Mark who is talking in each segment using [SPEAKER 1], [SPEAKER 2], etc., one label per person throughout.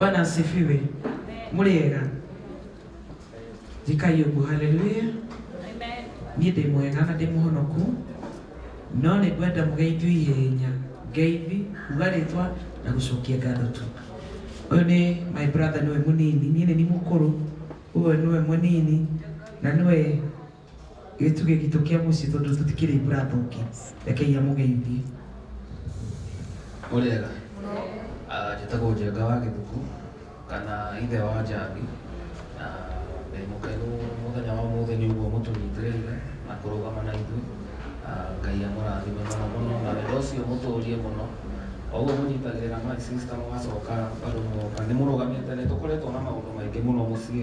[SPEAKER 1] Bwana asifiwe. Muriega. Jikai uguo haleluya.
[SPEAKER 2] Niĩ ndĩ mwega
[SPEAKER 1] na ndĩ mũhonoku no nĩ ngwenda mũgeithio ihenya ngeithi kuga rĩtwa na gũcokia ngatho tu. Ũyũ nĩ my brother nĩwe mũnini niĩ nĩ niĩ mũkũrũ ũyũ nĩwe mũnini na nĩwe gĩtugĩ gitũ kĩa mũciĩ tondũ tũtikĩrĩ mbura thũki rekei amũgeithie
[SPEAKER 3] mũrĩega Ah, njĩtagwo njenga wa gĩthuku kana ithe wa njambi na ndĩ mũkenu mũthenya wa mũthĩ nĩ ũguo mũtũnyitĩrĩire na kũrũgama na ithuĩ Ah, ngai amũrathime mũno mũno na wendo ũcio mũtũrie mũno O ũguo mũnyitagĩrĩra my sister mũgacoka bado mũgoka nĩ mũrũgamĩte nĩ tũkoretwo na maũndũ maingĩ mũno mũciĩ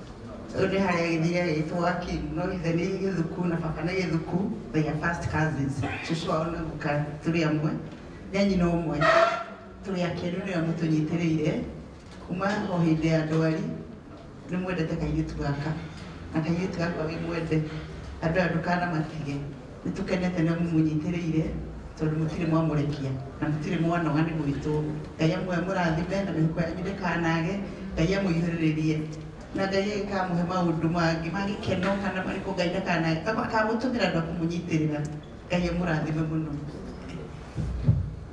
[SPEAKER 4] Rĩu nĩ harĩa gĩthiĩ gĩtwo Akinno, ithe nĩ Gĩthuku na baba nĩ Gĩthuku, they are first cousins. Cũcũ wao na guka tũrĩ amwe, nĩ a nyina ũmwe. Tũrĩ akenu nĩ amu tũnyitĩrĩire kuma o hĩndĩ ya ndwari, nĩ mwendete kairĩtu gaka na kairĩtu gaka wĩ mwende, andũ aya ndũkanamatige. Nĩtũkenete ũrĩa mũmũnyitĩrĩire tondũ mũtirĩ mwamũrekia na mũtirĩ mwanoga nĩ gwitũ. Ngai amũrathime na mĩhuko yanyu ndĩkanage. Ngai amũihũrĩrĩrie na Ngai agĩkamũhe maũndũ mangĩ ma gĩkeno kana marĩkũ Ngai ndakanage. Akamũtũmĩra andũ a kũmũnyitĩrĩra. Ngai amũrathime mũno.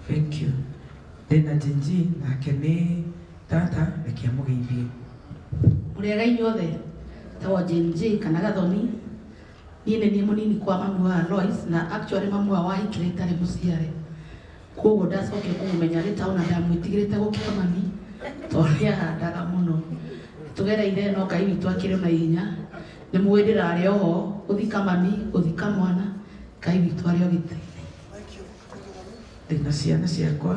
[SPEAKER 4] Thank
[SPEAKER 1] you. Ndĩna Genji nake nĩ tata, reke amũgeithie. Mũrĩega
[SPEAKER 5] inyuothe? Njĩtagwo Genji kana Gathoni. niĩ nĩ niĩ mũnini kwa mamu wa Alois na actually mamu wa wahikire itarĩ mũciare koguo ndacokire kũmũmenya arĩ taũ na ndamwĩtigĩrĩte gũkĩra mami tondũ nĩahandaga mũno tũgereire no ngai witũ akĩrĩ na hinya nĩ mũĩ ndĩrarĩ oho gũthika mami gũthika mwana ngai witũ arĩ o gĩtĩ ndĩna
[SPEAKER 1] ciana ciakwa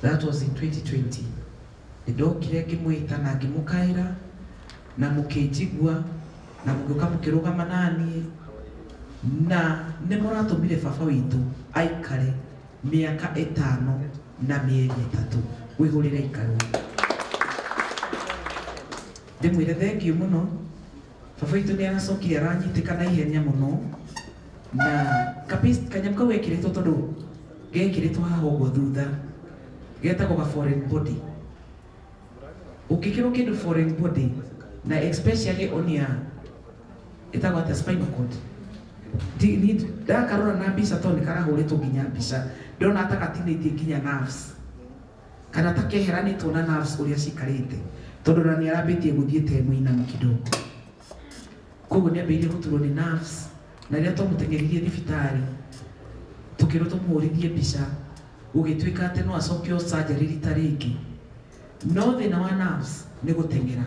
[SPEAKER 1] That was in 2020. Nĩndokire ngĩmwĩta na ngĩmũkaĩra na mũkĩnjigua na mũgĩũka mũkĩrũgama naniĩ na nĩ mũratũmire baba witũ aikare mĩaka ĩtano na mĩeri ĩtatũ wĩhũrĩre ikarũ ndĩmwĩre thengiũ mũno Baba witũ nĩ aracokire aranyitĩka na ihenya mũno na kapis- kanyamũ kau gekĩrĩtwo tondũ gekĩrĩtwo haha ũguo thutha getagwo ga foreign body ũngĩkĩrwo kĩndũ foreign body na especially on ya ĩtagwo atĩa spinal cord Ti- ni- ndakarora na mbica tondũ nĩ karahũrĩtwo nginya mbica ndona ta gatinĩtie nginya nerves Kana ta kehera nĩ tuona nerves ũrĩa cikarĩte tondũ na nĩ arambĩtie gũthiĩ te mũinamu kidogo koguo nĩ ambĩrĩirie gũturwo nĩ nerves na rĩrĩa twamũteng'eririe thibitarĩ tũkĩrwo tũmũhũrithie mbica gũgĩtuĩka atĩ no acokio surgery rita rĩngĩ no thĩna wa nerves nĩ gũteng'era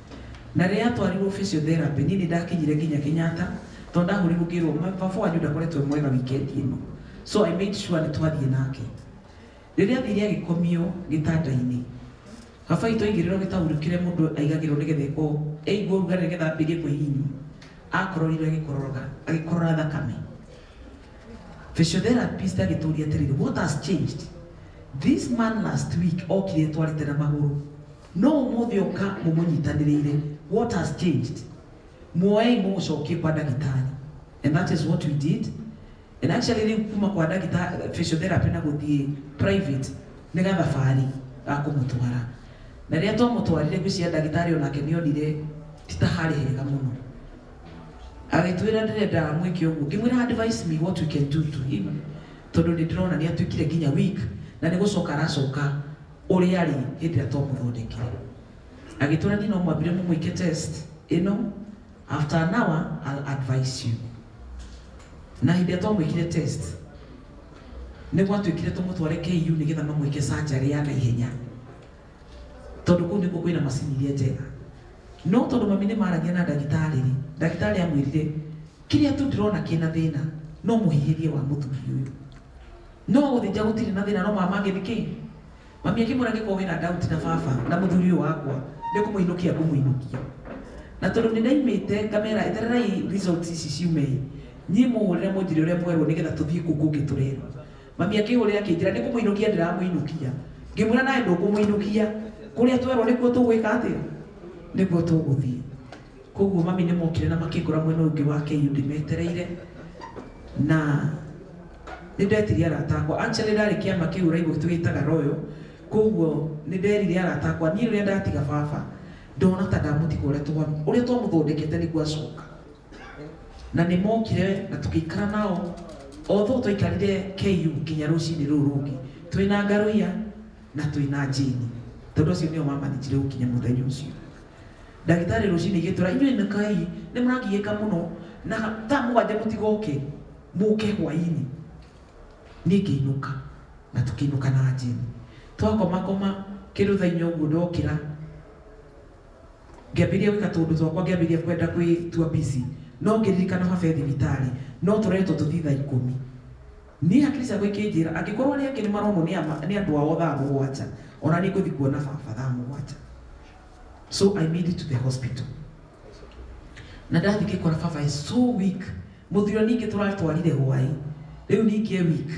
[SPEAKER 1] Na rĩrĩa aatwarirũo physiotherapy, niĩ nĩ ndakinyire nginya Kenyatta tondũ ndahũrirũo ngĩrũo baba wanyu ndakoretwo e mwega wikendi ĩno. So I made sure nĩ twathiĩ nake. Rĩrĩa aathire agĩkomio gĩtanda-inĩ, baba witũ aigĩrĩrũo gĩtaurũ kĩrĩa mũndũ aigagĩrũo nĩgetha eko aigua ũrugarĩ nĩgetha ambĩrĩrie kwĩhihinywo. Aakororire agĩkororoga, agĩkorora thakame. Physiotherapist agĩtũũria atĩrĩrĩ, What has changed? This man last week okire etwarĩte na magũrũ. no ũmũthĩ oka mũmũnyitanĩrĩire what has changed muoei mũmũcokie kwa ndagĩtarĩ and that is what we did and actually rĩu kuma kwa ndagĩtarĩ physiotherapy na gũthiĩ private nĩ gathabarĩ ga kũmũtwara na rĩrĩa twamũtwarire gwĩcia ndagĩtarĩ onake nĩ onire ti ta harĩ hega mũno agĩtwĩra ndĩrenda mwĩke ũguo ngĩmwĩra advice me what we can do to him tondũ nĩ ndĩrona nĩ atuĩkire nginya weak na nĩ gũcoka aracoka ũrĩa arĩ hĩndĩ ĩrĩa twamũthondekire agĩtwĩra niĩ no mwambire mũmwĩke test ĩno after an hour I'll advise you na hĩndĩ ĩrĩa twamwĩkire test nĩ gwatuĩkire tũmũtware KU nĩgetha mamwĩke surgery ya naihenya tondũ kũu nĩkuo kwĩna macini iria njega no tondũ mami nĩ maragia na ndagĩtarĩ rĩ ndagĩtarĩ amwĩrire kĩrĩa tu ndĩrona kĩna thĩna no mũhihĩrie wa mũthuri ũyũ No gũthĩnja gũtirĩ na thĩna no mama agĩthi kĩ? Mami akĩmwĩra angĩkorwo wĩna doubt na baba na mũthuri ũyũ wakwa nĩ kũmũinũkia ngũmũinũkia. Na tondũ nĩ ndaimĩte ngamera etererai results ici ciume ĩ, niĩ mũhũrĩre mũnjĩre ũrĩa mwerwo nĩgetha tũthiĩ kũu kũngĩ tũrerwo. Mami akĩhũrĩra akĩnjĩra nĩ kũmũinũkia ndĩramũinũkia. Ngĩmwĩra nawe ndũkũmũinũkia, kũrĩa twerwo nĩkuo tũgwĩka atĩa? Nĩkuo tũgũthiĩ. Koguo mami nĩ mokire na makĩngora mwena ũngĩ wa KU ndĩmetereire na nĩ ndetirie arata akwa. Actually ndarĩ kĩama kĩu ũraigua tũgĩtaga Royal, koguo nĩ nderire arata akwa niĩ rĩrĩa ndatiga baba ndona ta ndamũtiga ũrĩa twa ũrĩa twamũthondekete nĩguo acoka. Na nĩ mokire na tũgĩikara nao although twaikarire KU nginya rũcinĩ rũu rũngĩ twĩna Ngaruiya na twĩna Jane tondũ acio nĩo mamanĩnjire gũkinya mũthenya ũcio. Ndagĩtarĩ rũcinĩ gĩtũra, inyuĩ nĩ kai nĩ mũrangigĩka mũno na thaa mũgwanja mũtigoke mũke hwainĩ. Niĩ ngĩinũka na tũkĩinũka na Jane. Twakomakoma kĩndũ thaa inya ũguo ndokĩra ngĩambĩrĩria gwĩka tũũndũ twakwa ngĩambĩrĩria kwenda kwĩtua busy no ngĩririkana baba e thibitarĩ no tũretwo tũthiĩ thaa ikũmi. Niĩ hakiri ciakwa ikĩnjĩra angĩkorwo arĩa angĩ nĩ maronwo nĩ andũ ao thaa mũgwanja ona niĩ ngũthiĩ kuona baba thaa mũgwanja. so i made it to the hospital na ndathi ngikora baba is so weak muthiro ningi turatwarire hwai riu ningi e weak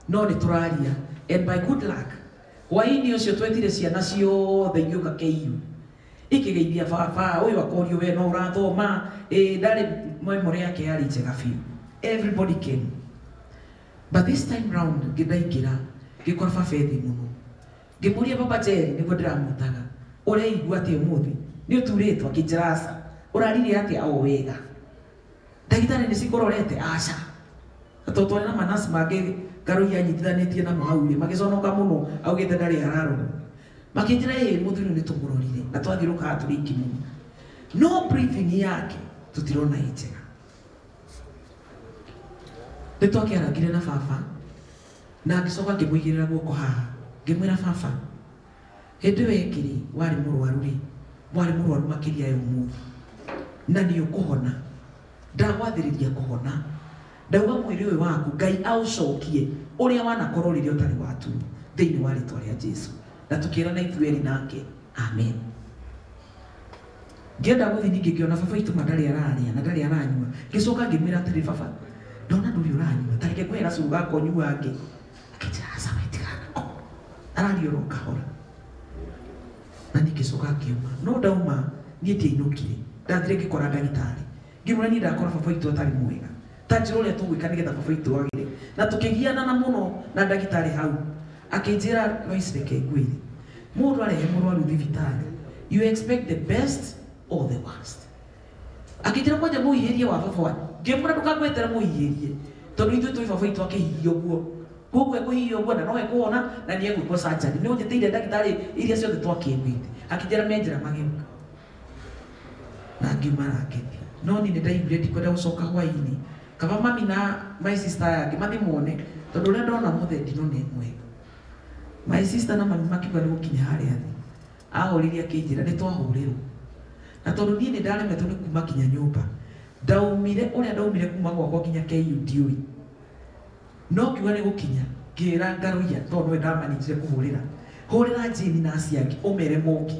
[SPEAKER 1] no ni turaria and by good luck hwaini ucio twetire ciana ciothe igiuka KU ikigeithia baba uyu akorio we no urathoma eh ndari memory yake yari njega biũ everybody came but this time round ngidaingira ngikora baba ethi muno ngĩmũria baba Jerry nĩguo ndĩramwĩtaga ũreigua atĩ ũmũthĩ nĩ ũturĩtwo akĩnjĩra aca ũrarire atĩa o wega ndagĩtarĩ nĩ cikũrorete aca tondũ twarĩ na manasi mangĩ ngarũi anyitithanĩtie namo hau rĩ magĩconoka mũno augĩte ndarĩ ararorwo makĩnjĩra ĩ mũthuri ũyũ nĩ tũmũrorire na twathiũrũkaga tũrĩ iki mũno no breathing yake tũtirona ĩ njega nĩ twakĩarangire na baba Na ngĩcoka ngĩmũigĩrĩra guoko haha, ngĩmwĩra, Baba, hĩndĩ ĩyo ĩngĩ-rĩ, warĩ mũrũaru-rĩ, warĩ mũrũaru makĩria ya ũmũthĩ, na nĩũkũhona. Ndagwathĩrĩria kũhona. Ndauga mwĩrĩ ũyũ waku, Ngai aũcokie ũrĩa wanakorwo rĩrĩa ũtarĩ watuo, thĩinĩ wa rĩtwa rĩa Jesu. Na tũkĩĩrana ithuerĩ nake, Amen. Ngĩenda gũthiĩ ningĩ ngĩona baba witũ ma ndarĩ ararĩa na ndarĩ aranyua. Ngĩcoka ngĩmwĩra atĩrĩ, baba, ndona ndũrĩ ũranyua, ta reke ngũhe gacũrũ gaka ũnyuange. Akĩnjĩra, aca we tiga nako. Araria oro kahora. Na niĩ ngĩcoka ngiuma. No ndauma, niĩ ndiainũkire. Ndathire ngĩkora ndagĩtarĩ. ngĩmwĩra niĩ ndakora baba witũ atarĩ mwega ta njĩra ũrĩa tũgwĩka nĩgetha baba witũ agĩre na tũkĩgianana mũno na ndagĩtarĩ hau akĩnjĩra Lois reke ngwĩre mũndũ arehe mũrwaru thibitarĩ you expect the best or the worst akĩnjĩra kwanja mũhihĩrie wa baba wanyu ngĩmwĩra ndũkangwetera mũhihĩrie tondũ ithuĩ tũĩ baba witũ akĩhihia ũguo koguo ekũhihia ũguo na no ekũhona na nĩ egwĩkwo sanjari nĩ ũnjĩtĩire ndagĩtarĩ iria ciothe twakĩiguĩte akĩnjĩra me njĩra magĩũka na ngiuma na ngĩthiĩ no niĩ nĩ ndaiguire ndikwenda gũcoka hwaĩ-inĩ kaba mami na my sister aya angĩ mathiĩ mone tondũ ũrĩa ndona ũmũthĩ ndino nĩ ĩmwe my sister na mami makiuga nĩ gũkinya harĩa thĩ ahorire akĩnjĩra nĩ twahũrĩrwo na tondũ niĩ nĩ ndaremetwo nĩ kuma kinya nyũmba ndaumire ũrĩa ndaumire kuma gwakwa kinya KU ndiũĩ no kiuga nĩ gũkinya ngĩra ngarũia tondũ nĩwe ndamanĩtire kũhũrĩra hũrĩra njĩni na aciangi ũmere moki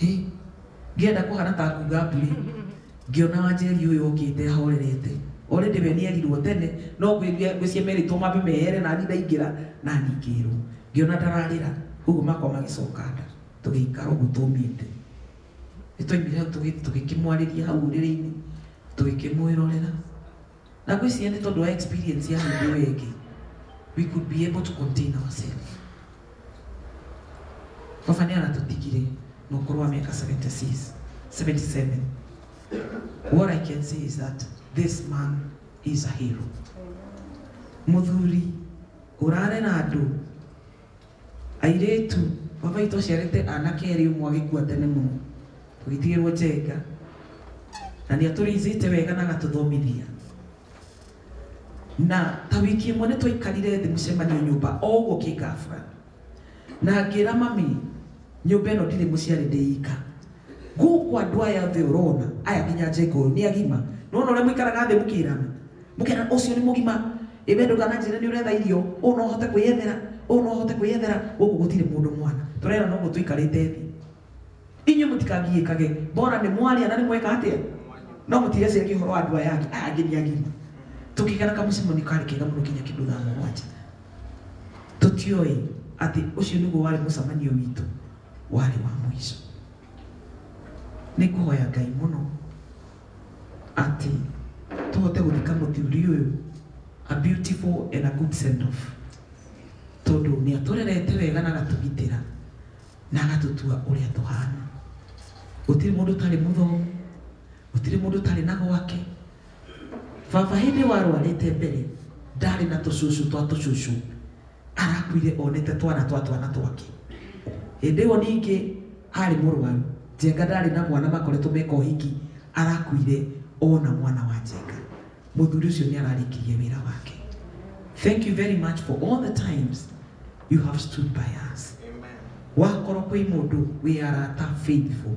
[SPEAKER 1] Hĩ! Ngĩenda kũhana ta nguga mbũri, ngĩona wanjeri ũyũ okĩte ahorerete. Already we nĩerirwo tene, no ngwĩria ngwĩciria merĩtwo mambe mehere nani ndaingĩra, nani ngĩrwo. Ngĩona ndararĩra, ũguo makwa magĩcoka nda. Tũgĩikara ũguo tũmĩte. Nĩtwaumire hau tũgĩthiĩ tũgĩkĩmwarĩria hau ũrĩrĩ-inĩ, tũgĩkĩmwĩrorera. na ngwĩciria nĩ tondũ wa experience ya hĩndĩ ĩyo ĩngĩ we could be able to contain ourselves baba nĩ aratũtigire na ũkũrũ wa mĩaka 76 77 what i can say is that this man is a hero mũthuri ũrarera andũ Airĩtu, baba witũ aciarĩte anake erĩ ũmwe agĩkua tene mũno, tũgĩtigĩrwo Njenga, na nĩ atũrĩithĩte wega na agatũthomithia. Na ta wiki ĩmwe nĩ twaikarire thĩ mũcemanio nyũmba o ũguo kĩngabra, na ngĩra mami Nyũmba ĩno ndirĩ mũciarĩ ndĩ ika. Gũkũ andũ aya othe ũrona, aya nginya Njenga ũyũ nĩ agima. Nĩwona ũrĩa mũikaraga thĩ mũkĩrana? Mũkerana ũcio nĩ mũgima, ĩ we ndũkananjĩre nĩ ũretha irio, ũũ no ahote kwĩyethera, ũũ no ahote kwĩyethera, gũkũ gũtirĩ mũndũ mwana. Tũrerana ũguo tũikarĩte thĩ. Inyuĩ mũtikangiĩkage, mbora nĩ mwaria na nĩ mweka atĩa? No mũtireciaria ũhoro wa andũ aya angĩ, aya angĩ nĩ agima. Tũkĩgera kamũcemanio karĩ kega mũno nginya kĩndũ thaa mũgwanja. Tũtiũĩ atĩ ũcio nĩguo warĩ mũcemanio witũ warĩ wa mũico. Nĩ kũhoya Ngai mũno atĩ tũhote gũthika mũthuri ũyũ a beautiful and a good send off, tondũ nĩ atũrerete wega na agatũgitĩra na agatũtua ũrĩa tũhana. Gũtirĩ mũndũ ũtarĩ mũthomu, gũtirĩ mũndũ ũtarĩ na gwake. Baba hĩndĩ warwarĩte mbere ndarĩ na tũcucu twa tũcucu arakuire onete twana twa twana twake hĩndĩ ĩyo ningĩ arĩ mũrwaru njenga ndarĩ na mwana makoretwo meka ũhiki arakuire ona mwana wa njenga mũthuri ũcio nĩ ararĩkirie wĩra wake thank you very much for all the times you have stood by us wakorwo kwĩ mũndũ wĩ arata faithful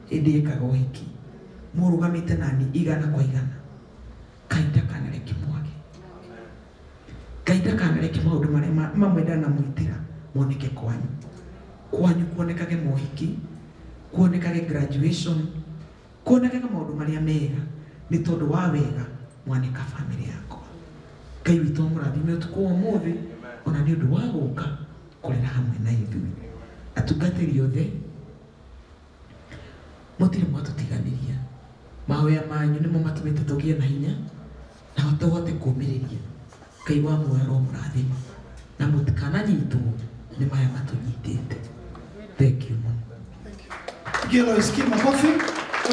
[SPEAKER 1] Hĩndĩ ekaga ũhiki mũrũgamĩte naniĩ igana kwa igana, Ngai ndakanareke mwage. Ngai ndakanareke maũndũ marĩa ma, mamwe ndanamwĩtĩra moneke kwanyu. Kwanyu kuonekage mohiki, kuonekage graduation, kuonekage maũndũ marĩa mega, nĩ tondũ wa wega mwaneka family yakwa. Ngai witũ amũrathime ũtukũ wa ũmũthĩ, ona nĩ ũndũ wa gũka kũrĩra hamwe na ithuĩ. Atungatĩri othe. Mũtirĩ mwatũtiganĩria. Mahoya manyu nĩmo matũmĩte tũgĩe na hinya na tũhote kũũmĩrĩria. Ngai wa muoyo aromũrathima na mũtikananyitwo nĩ maya matũnyitĩte.
[SPEAKER 6] Thengiũ
[SPEAKER 1] mũno.
[SPEAKER 6] Pigia Lois
[SPEAKER 1] King
[SPEAKER 6] makofi.